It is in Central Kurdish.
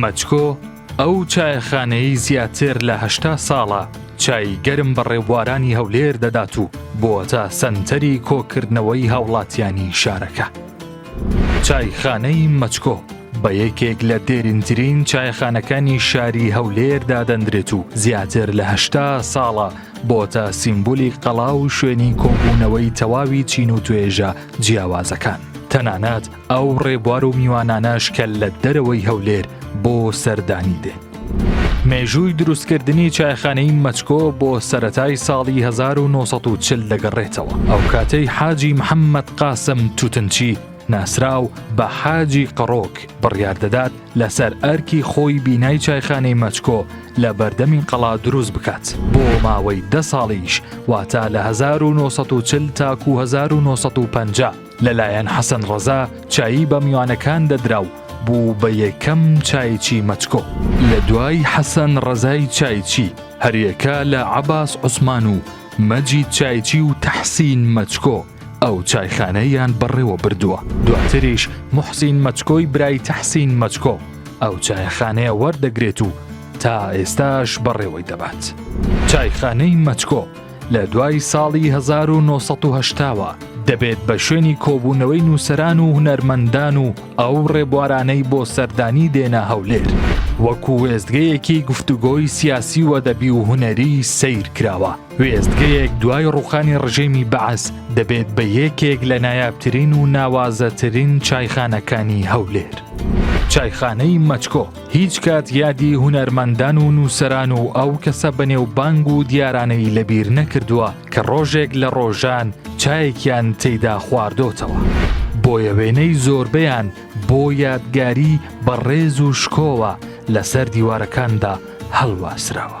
مەچکۆ ئەو چایەخانەی زیاتر لە هەشتا ساڵە چای گەرم بە ڕێبوارانی هەولێر دەدات و بۆتە سەنتەری کۆکردنەوەی هاوڵاتیانی شارەکە. چایخانەی مەچکۆ بە یەکێک لە دێرینترین چایخانەکانی شاری هەولێر دادەندرێت و زیاتر لە هەشتا ساڵە بۆتە سیمبولی قەڵا و شوێنی کۆبوونەوەی تەواوی چین و توێژە جیاوازەکان. تەنانەت ئەو ڕێبوار و میوانانەش کە لە دەرەوەی هەولێر بۆ سەردانی دێن. مێژووی دروستکردنی چایخانەی مەچکۆ بۆ سەتای ساڵی 1940 دەگەڕێتەوە ئەو کاتەی حاجی محەممەد قاسم توتنچی ناسراو بە حاجی قڕۆک بڕیار دەدات لەسەر ئەرکی خۆی بینای چایخانەی مەچکۆ لە بەردەمی قەڵا دروست بکات بۆ ماوەی دە ساڵیش واتا لە 1940 تاکو 1950 لەلایەن حەسەن ڕەزا چایی بە میوانەکان دەدرا و بوو بە یەکەم چایچی مەچکۆ لە دوای حەسەن ڕەزای چایچی هەریەکە لە عەباس عوسمان و مەجید چایچی و تەحسین مەچکۆ ئەو چایخانەیان بەڕێوە بردووە دواتریش موحسین مەچکۆی برای تەحسین مەچکۆ ئەو چایخانەیە وەردەگرێت و تا ئێستاش بەڕێوەی دەبات چایخانەی مەچکۆ لە دوای ساڵی 1970 وە دەبێت بە شوێنی کۆبوونەوەی نووسران و هونەرمەندان و ئەو ڕێبوارانەی بۆ سەردانی دێنە هەولێر وەکو وێستگەیەکی گفتوگۆی سیاسی و دەبی و هونەری سیر کراوە وێستگەیەک دوای ڕوخانی ڕژێمی بەعس دەبێت بە یەکێک لە نایابترین و ناوازەترین چایخانەکانی هەولێر چایخانەی مەچکۆ هیچ کات یادی هونەرمەندان و نووسەران و ئەو کەسە بەنێو بانگ و دیارانەی لەبیر نەکردووە کە ڕۆژێک لە ڕۆژان چایەکیان تێیدا خواردۆتەوە. بۆیە وێنەی زۆربەیان بۆ یادگاری بە ڕێز و شکۆوە لەسەر دیوارەکاندا هەڵواسراوە.